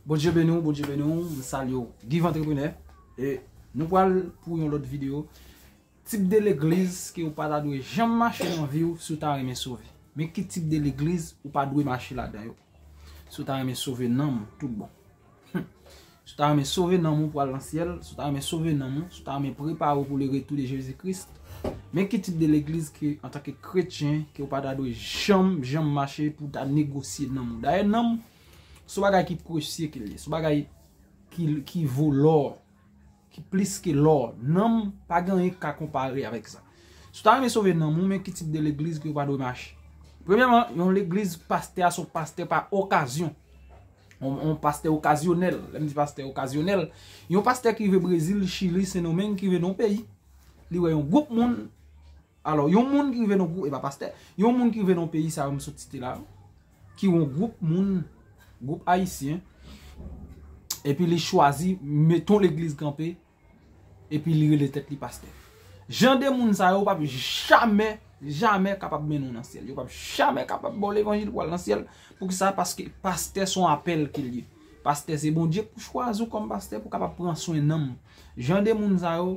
Bondye beni w, Bondye beni w, m salye w Give Entrepreneur e nou pral pou yon lòt videyo Tip de legliz ke ou pa ta dwe janm mache nan vi w si w ta renmen sove Men ki tip de legliz ou pa dwe mache ladan yo Si w ta renmen sove nanm ou tout bon Hum Si w ta renmen sove nanm ou pou al nan syèl Si w ta renmen sove nanm ou Si w ta renmen prepare w pou le retou de Jezi Kris Men ki tip de legliz ke antanke kretyen ke ou pa ta dwe janm, janm mache pou ta negosye nanm ou. Dayè nanm, se yon bagay ki presye ke li. Se yon bagay ki vo lò, ki plis ke lò. Nanm, pa gen anyen ki ka konpare avèk sa. Si ou ta renmen sove nanm ou, men ki tip de legliz ke ou pa dwe mache. Premyèman, yon legliz pastè a se yon pastè pa okazyon. Yon pastè okazyonèl. Lè m di pastè okazyonèl, yon pastè ki rive Brezil, Chili, Sendomeng, ki rive nan yon peyi. Li wè yon gwoup moun, alò yon moun ki rive nan gwoup, e pa pastè, yon moun ki rive nan peyi sa yo m sot site la, ki yon gwoup moun, gwoup ayisyen, epi li chwazi met yon legliz kanpe, epi li rele tèt li pastè. Jan de moun sa yo pa p jamè, jamè kapab mennen w nan syèl. Yo pa p jamè kapab ba w levanjil pou w al nan syèl. Pou ki sa? Paske pastè son apèl ke l ye. Pastè se Bondye k pou chwazi w kòm pastè pou w kapab pran swen nanm. Jan de moun sa yo,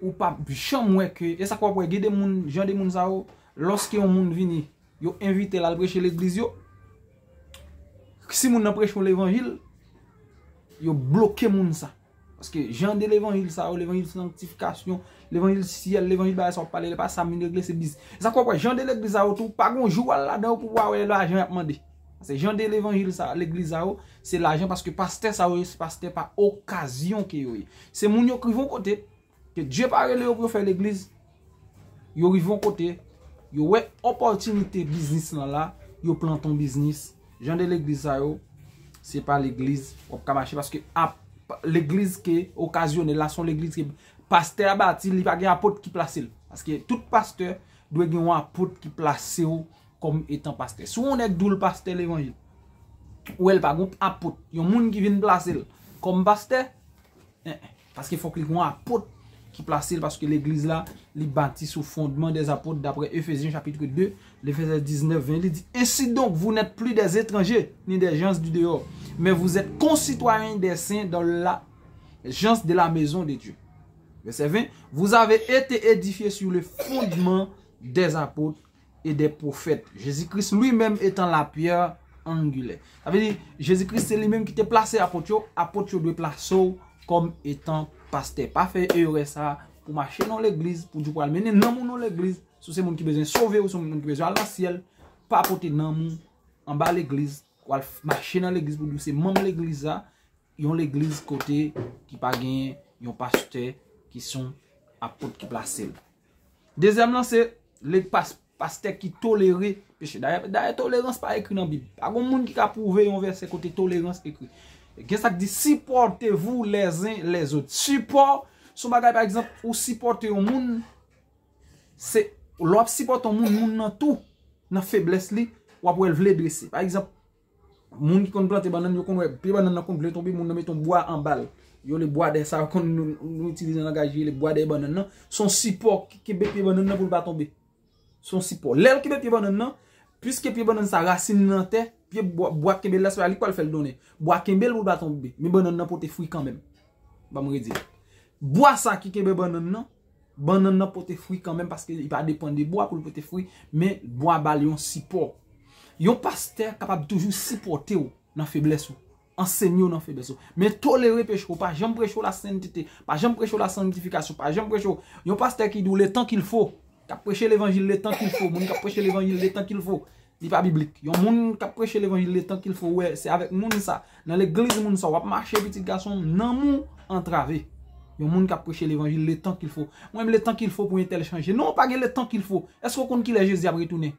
ou pap janm wè ke, e sa k wap wè, gen de moun, jan de moun sa yo, lòske yon moun vini, yo envite l al preche legliz yo, si moun nan preche yon levanjil, yo bloke moun sa. Paske jan de levanjil sa yo, levanjil sanktifikasyon, levanjil syèl, levanjil bagay sa yo pale, e pa sa moun regle se biznis. E sa k wap wè, jan de legliz sa yo tou, pa gon jou w al ladan yo pou w pa wè lajan y ap mande. Se jan de levanjil sa a, legliz sa yo, se lajan paske pastè sa yo se pastè pa okazyon ke yo ye. Se moun yo k rive yon kote, ke Dye pa rele yo pou yo fè legliz, yo rive yon kote, yo wè opòtinite biznis lan la, yo plante yon biznis, jan de legliz sa yo, se pa legliz wap ka mache paske ap legliz ke okazyonè la son legliz ke pastè a bati li pa gen apot ki plase l. Paske tout pastè dwe gen yon apot ki plase yo Kòm etan pastè. Si w wè yon nèg di w l pastè levanjil, ou wè l pa gen yon apot, yon moun ki vin plase l kòm pastè, en en, paske fòk li gen yon apot ki plase l, paske legliz la, li bati sou fondman dè apot, daprè Efezyen chapitre 2, lè vèsè 19, 20, li di, Ensidonk, vou nèt pli dè etranje, ni dè jans di deyò, men vou zèt konsitwayen dè sen dan la jans de la mezon de Dye. Vèsè 20, Vouzave ete edifye sou le fondman dè apot, e dè pwofèt, Jezi Kris lwi menm etan la pyè angilè. Sa vle di, Jezi Kris se li menm ki te plase apot yo, apot yo dwe plase w kòm etan pastè. Pa fè erè sa, pou mache nan w legliz, pou di w pral mennen nanm ou nan w legliz, si w se moun ki bezwen sove, ou se moun ki bezwen al nan syèl, pa pote nanm ou anba legliz, pou al mache nan legliz pou di w se manm legliz la, yon legliz kote ki pa gen yon pastè ki son apot ki plase l. Dezyèm lan se lèg pastè ki tolere peche. Dayè tolerans pa ekri nan bib. Pa gon moun ki ka pwouve yon vèsè kote tolerans ekri. Gen sak di sipòte vou lèzen lèzot. Sipò son bagay pa egzanp ou sipòte yon moun. Se lò ap sipòte yon moun moun nan tou. Nan feblès li wap wèl vle drese. Pa egzanp. Moun ki konn plante bannann yo konn wè pye bannann nan konn vle tonbe moun nan met yon bwa anba l. Yo rele bwa dè sa yo konn nou itilize nan langaj yo rele bwa dè bannann nan. Se yon sipò ki kenbe pye bannann nan pou l pa tonbe. Se yon sipò. Lè l kenbe pye bannann nan, piske pye bannann sa rasin li nan tè, pye bwa k kenbe l la se pa li k pral fè l donnen. Bwa a kenbe l pou l pa tonbe. Men bannann nan pote fwi kanmenm. Ban m redi l. Bwa sa ki kenbe bannann nan. Bannann nan pote fwi kanmenm paske li pa depann de bwa pou l pote fwi, men bwa ba l yon sipò. Yon pastè kapab toujou sipòte w nan feblès ou, ansenye w nan feblès ou. Men tolere peche w, pa janm preche w lasentete, pa janm preche w lasanktifikasyon, pa janm preche w. Yon pastè ki di w letan kilfo, k ap preche levanjil letan kilfo, moun k ap preche levanjil letan kilfo. Li pa biblik. Yon moun k ap preche levanjil de tank il fo wè se avèk moun sa, nan legliz moun sa w ap mache pitit gason m, nanm ou antrave. Yon moun k ap preche levanjil le tan kil fo. Mwen menm le tan kil fo pou entèl chanje. Non, pa gen le tan kil fo. Èske w konn kilè Jezi ap retounen?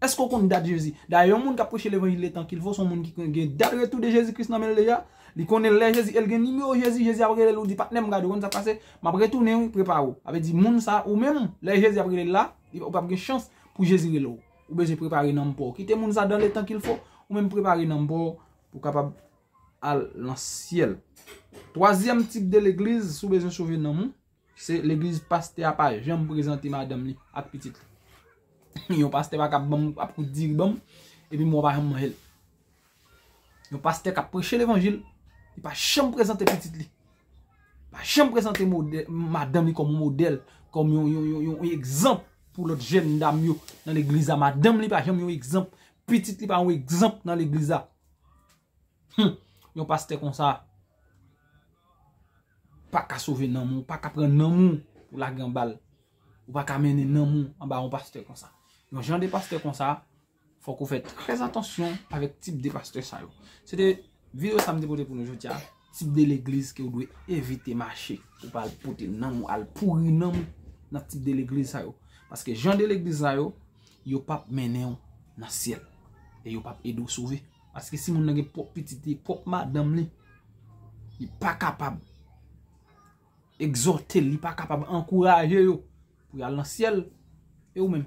Èske w konn dat Jezi? Dayè yon moun k ap preche levanjil le tan kil fo se yon moun ki konn gen dat retou de Jezi Kris nan men l deja. Li konnen lè Jezi e l gen nimewo Jezi. Jezi ap rele l ou di, Patnè m, gade ou konn sa k pase? M ap retounen wi, prepare w. Sa vle di moun sa, ou menm, lè Jezi ap rele l la, ou p ap gen chans pou Jezi rele w. Ou bezwen prepare nanm paw. Kite moun sa dan le tan kil fo. Ou menm prepare nanm paw pou kapab al lan syèl. Twazyèm tip de legliz sou bezwen sove nanm ou. Se legliz paste a pa janm prezante madanm li ak pitit li. Yon paste pa kap banm ap kout diri banm. Epi mwen pa janm manjel. Yon pastè kap preche levanjil, li pa janm prezante pitit li, pa janm prezante madanm li kòm modèl, kòm yon egzanp pou lòt jèn dam yo nan legliz la, madanm li pa janm yon egzanp, pitit li pa yon egzanp nan legliz la. Hum! Yon pastè konsa, pa ka sove nanm ou, pa ka pran nanm ou pou lage anba l, ou pa ka mennen nanm ou anba yon pastè konsa. Yon jan de pastè konsa, Fòk ou fè trè atansyon avèk tip de pastè sa yo. Se te video sa m te pote pou nou jodi a. Tip de legliz ke ou dwe evite mache. Ou pa al pote nanm ou, al pouri nanm ou nan tip de legliz sa yo. Paske jan de legliz sa yo, yo pap mennen ou nan syèl. E yo pap ede ou sove. Paske si moun nan gen pwòp pitit li, pwòp madanm li, li pa kapab egzòte, li pa kapab ankouraje yo pou y al nan syèl, e ou menm?